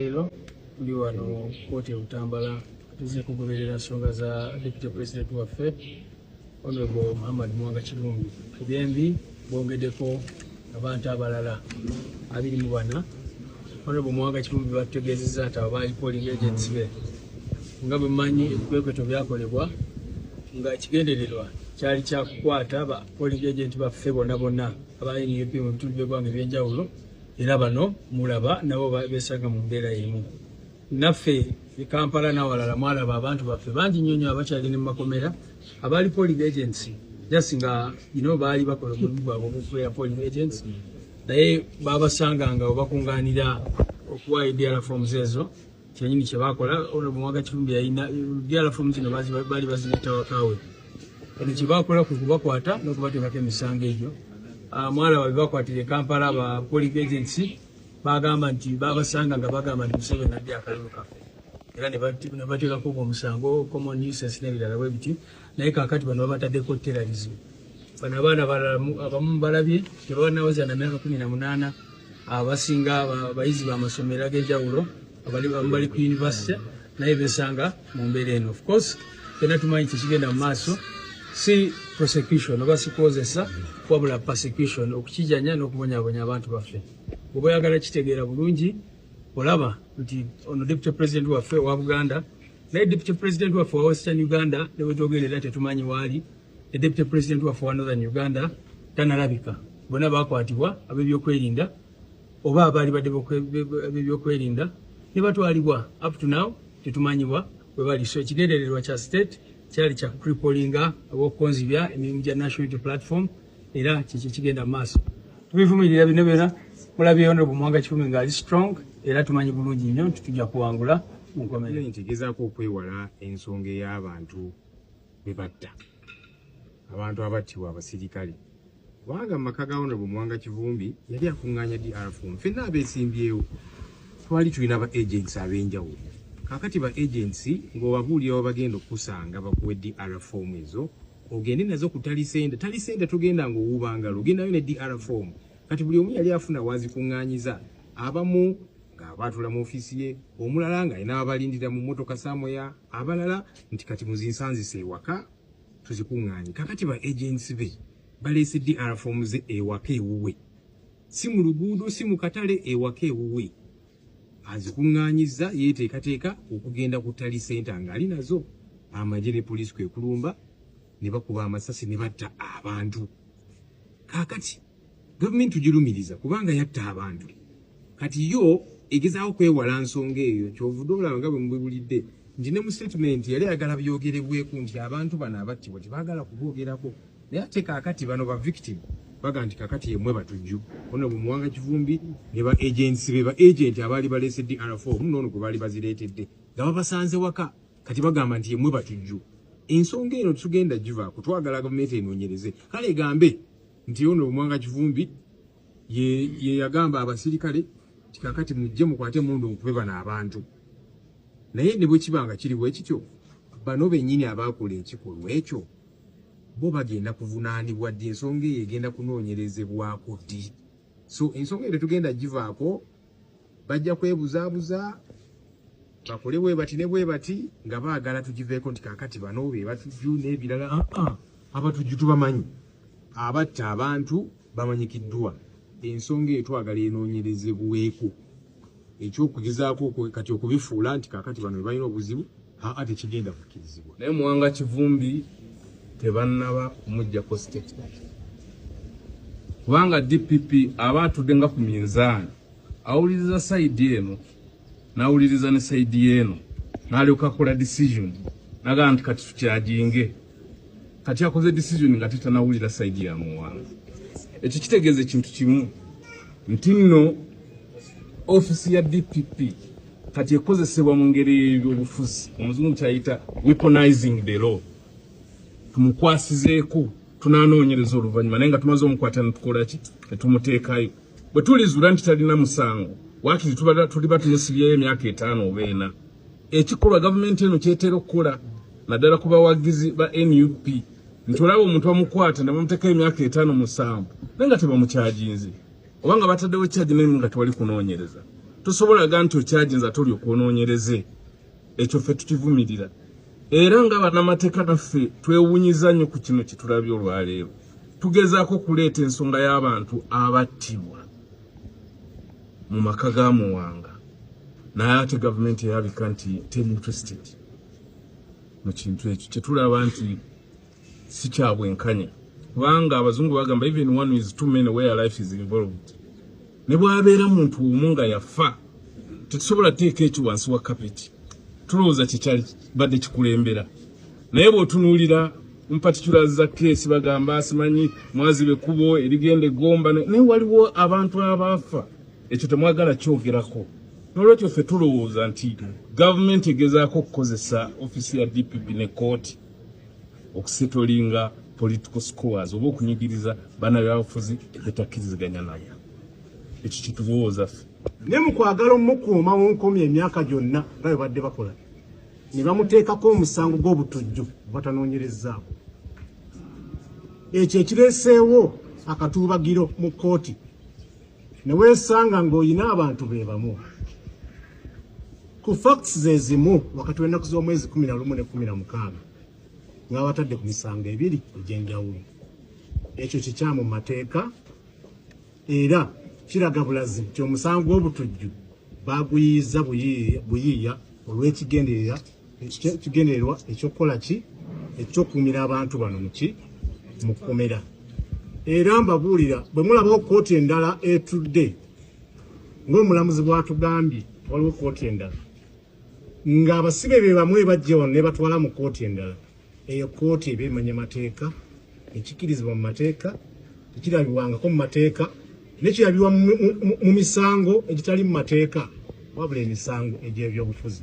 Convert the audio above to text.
Leero tuli wano kkooti e Butambala tuzze kugoberera nsonga za deputy president waffe honorable Muhammad Mwanga Kirumbi ku byembi bongedeko abantu abalala abiri mu bana honorable Mwanga Kirumbi batutegeezezza nti abo baali polling agents be nga bwe mmanyi ebikwekweto byakolebwa nga ekigendererwa kyali kyakukwata ba polling agent baffe bona bona aba nup mu bitundu by'eggwanga eby'enjawulo era bano mulaba nabo besanga mu mbeera emu naffe ekampala nawalala mwalaba abantu baffe bangi nyonyo abakyagende mu makomera abaali polling agency just nga ino baali bakola omulimu gwabwe ogukubeera polling agency naye babasanganga webakunganira okuwa edr forms ezo kyenyini kyebakola honorable mwaga kivumbi yalina byala fomu zino baali bazireeta wakawe kati kyebakola kwe kubakwata nokubateekako emisango egyo ah, mwalaba bebakwatira ekampala ba polic agency bagamba nti babasanga nga bagamba nti museveni nadde akalulu kaffe era nebateekako omusango common uses nebirala bwe biti naye kakati bano babatadeko terrorism bano abaana abamu balabye tebawanawoza na myaka kumi na munana abasinga abayizi bamasomero agenjawulo abamu bali ku university naye besanga mu mbeera eno of course fena tumanyi kyekigenda mu maaso si prosecution oba sikozesa wabula persecution okukijanya n'okubonyabonya abantu baffe oba oyagala kitegeera bulungi olaba nti ono deputy president waffe owa buganda naye deputy president waffe owa western uganda newetogenda era tetumanyi waali ne deputy president waffe owa northern uganda tanalabika bona bakwatibwa abebyokwerinda oba abaali badde abebyokwerinda nebatwalibwa up to now tetumanyiwa webali so ekigendererwa kya state kyali kya kucripolinga oba okukonzibya emirimu gya national unity platform era kiki kigenda mu maaso tubivumirira bino byona mulabye ono bumwanga kikumi nga ali strong era tumanyi bulungi nnyo nti tujja kuwangula mu nkomerero nti gezaako okwewala ensonga ey'abantu be batta abantu abattibwa abasirikale kubanga mu maka ga ono bumwanga kivumbi yali akuŋŋaanya drfum fenna abeesimbyewo twali tulina ba agents ab'enjawulo kakati ba agency ng'obabuulira wabagenda okukusanga bakuwe drfom ezo ogende nazo ku talisente talisente tugenda nga owuuba ngalo ogendayo ne dr form kati buli omu yali afuna wazikuŋŋaanyiza abamu ng'abaatula mu ofiisi ye omulala ng'alina abalindira mu mmotoka samoya abalala nti kati muzinsanzisa ewaka tuzikuŋŋaanye kakati ba agensi be baleese dr form ze ewaka ewuwe si mu luguudo si mu katale ewaka ewuwe azikuŋŋaanyizza yeeteekateeka okugenda ku ttali senta ng'ali nazo amagye ne poliisi kwe kulumba ne bakuba amasasi ne batta abantu kaakati gavumenti tugirumiriza kubanga yatta abantu kati yo egezaako kwewala nsonga eyo kyovude olaba nga bwe mubibulidde nti ne mu sitatimenti yali ayagala byogerebweku nti abantu bano abattibwa tebaagala kuboogerako naye ate kakati bano ba victim baga nti kakati yemwe batujju ono bumuwanga kivumbi ne ba agents be ba agent abaali balese dr4 muno ono gwebaali bazireetedde nga babasanze waka kati bagamba nti yemwe batujju ensonga eno tugenda giva kutwagala gavumenti enoonyereze kale egambe nti ono bumuwanga kivumbi yeyagamba ye abasirikale tikakati mujje mukwate mundu nkube bano abantu naye ne bwekiba nga kiriwo ekityo bano bennyini abaakola ekikolwa ekyo bo bagenda kuvunaanibwa ddi ensonga eyo egenda kunoonyerezebwako ddi so ensonga eyo tetugenda givaako bajja kwebuzaabuza bakole bwe bati ne bwe bati nga baagala tugiveeko nti kakati bano be batujju n'ebirala aa ah, ah, abatujju tubamanyi abatta abantu bamanyikiddwa ensonga eyo twagala enoonyerezebweko ekyokugezaako kati okubifuula nti kakati bano bebalina obuzibu aa tekigenda kukkirizibwa naye muwanga kivumbi tebannaba kumujjako statement kubanga dpp aba atudde nga ku minzaani awuliriza sayidi eno n'awuliriza ne sayidi yeeno n'alyoka akola decision nagaa nti kati tukyajinge kati akoze decision nga tetanawulira side ya muwanga ekyo kitegeeza ekintu kimu nti nno ofisi ya dpp kati ekozesebwa mu ngeri y'ebyobufuzi omuzungu kyayita weaponizing the law tumukwasizeeko tunanoonyereza oluvannyuma naye nga tumaze omukwata netukolaki netumuteekayo bwe tulizuula nti talina musango wakiri tuliba tumusibyeyo emyaka etaano oba ena ekikolwa gavumenti eno kyetera okukola naddala ku bawagizi ba nup nti olaba omuntu bamukwata ne bamuteeka emyaka etaano musanvu naye nga tebamukyaginze oba nga bataddewo kyagi naye nga tewali kunoonyereza tosobola ga nti okyaginze ate oli okwonoonyereze ekyo ffe tukivumirira era nga banamateeka naffe twewunyiza nnyo ku kino kyetulabye olwaleero tugezaako okuleeta ensonga y'abantu abattibwa mu maka ga muwanga naye ate gavumenti erabika nti teri interested mu kintu ekyo kyetulaba nti si kya bwenkanya kubanga abazungu bagamba even one is too many where life is involved ne bwabeera muntu omu nga yafa tetusobola teeka ekyo wansi wa kapeti tulowooza kyekyali badde kikulembera naye bwotunuulira mpatikula za keesi bagamba asimanyi mwazibe kubo erigenda egomba naye waliwo abantu abaafa ekyo temwagala kyogerako nolwekyo ffe tulowooza nti gavumenti egezaako okukozesa ofisi ya dpp ne kooti okusetolinga political scores oba okunyigiriza bana byabufuzi betakkiriziganya nabo ekyo kyetulowooza ffe ne mukwagala omukuuma munkomya emyaka gyonna nga bebadde bakola ne bamuteekako omusango gw'obutujju batanoonyerezaako ekyo ekireeseewo akatuubagiro mu kkooti ne weesanga ng'olina abantu be bamu ku facts ze zimu wakati w'ennaku z'omwezi kumi na lumu ne kumi na mukaaga ng'abatadde ku misango ebiri egy'enjawulo ekyo kikyamu mu mateeka era kiraga bulazi nti omusango gw'obutujju baguyiiza buyiiya olw'ekigendererwa ekigendererwa ekyokukola ki ekyokuumira abantu bano muki mu kkomera era mbabuulira bwe mulabawo kkooti endala etudde ng'omulamuzi bw'atugambye waliwo kkooti endala ng'abasibe be bamu ebajja wano ne batwala mu kkooti endala eyo kkooti eba emanya mateeka ekikirizibwa mu mateeka tekirabibwangako mu mateeka nekirabibwa mu misango egitali mu mateeka wabula emisango egy'ebyobufuzi